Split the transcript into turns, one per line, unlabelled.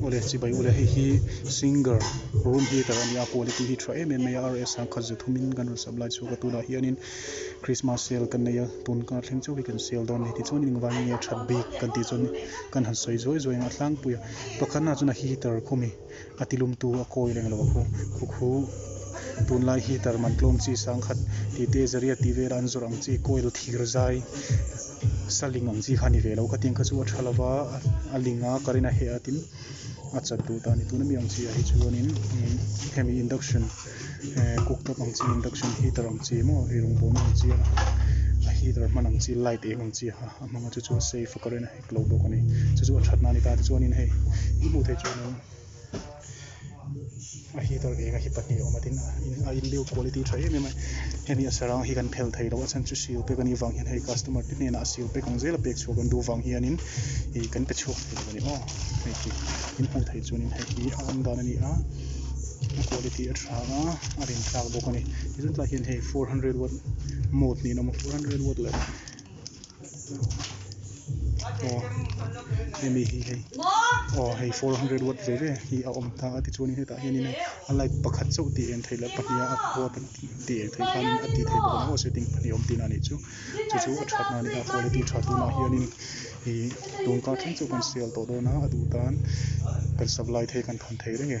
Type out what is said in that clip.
Ule chibai ule hei hi singer room heater a nia quality hi tha em em mai a RS ang khat ze thum in kan rawn sap lai chu ka tunah hian in Christmas sale kan nei a tun kar thleng chauh hi kan sale dawn ni tichuan in engvang nge that bik kan tih chuan in kan han sawi zuai zuai ang a tlangpui a pakhat na chuan a heater khawmi a ti lum tu a kawi reng lo a khukhu tun lai heater man tlawm chi sang khat tih te zariat tih vel a an zawrh ang chi coil thir zai Saling ang chi kha ni ve lo ka tiang kha chu a tha lo va, a ling a current a heh a tin a chat duh ta ni tun a mi ang chi ah hi chuan in hemi induction ehh cook top ang chi induction heater ang chi emaw i rawn bawn ang chi a heater hman ang chi light eng ang chi kha a hmang a chu chu safe a current a hek lo bawk a ni chu chu a that na a ni ta tichuan in hei i hmuh theih chuan in. a heater eng a hi pahnih a awm a tin a in build quality tha em em a hemi a sarang hi kan phel thei lo a chhan chu sil pek a nih vang hian hei customer te hnenah a sil pek ang zela pek chhuah kan duh vang hianin ih kan pe chhuak thei lo a ni aw hei khi min hmuh theih chuan in hei hi a awm dan a ni a a quality a tha a a rin tlak bawk a ni ti zut lah hian hei four hundred watt mode niin a awm a four hundred watt leh-- aw hemi hi hei aw hei four hundred watt ve ve hi a awm ta a tichuanin hetah hianin a light pakhat chauh tih eng theih loh pahnih a khua pahnih tih eng theih khan a tih theih bawk a ni maw setting pahnih awm tihna nih chu chu chu a tha hna ania quality tha tunah hianin ih tun kar thleng chu kan sial tawh dawn a a duh tan kan sak lai thei kan than thei reng e.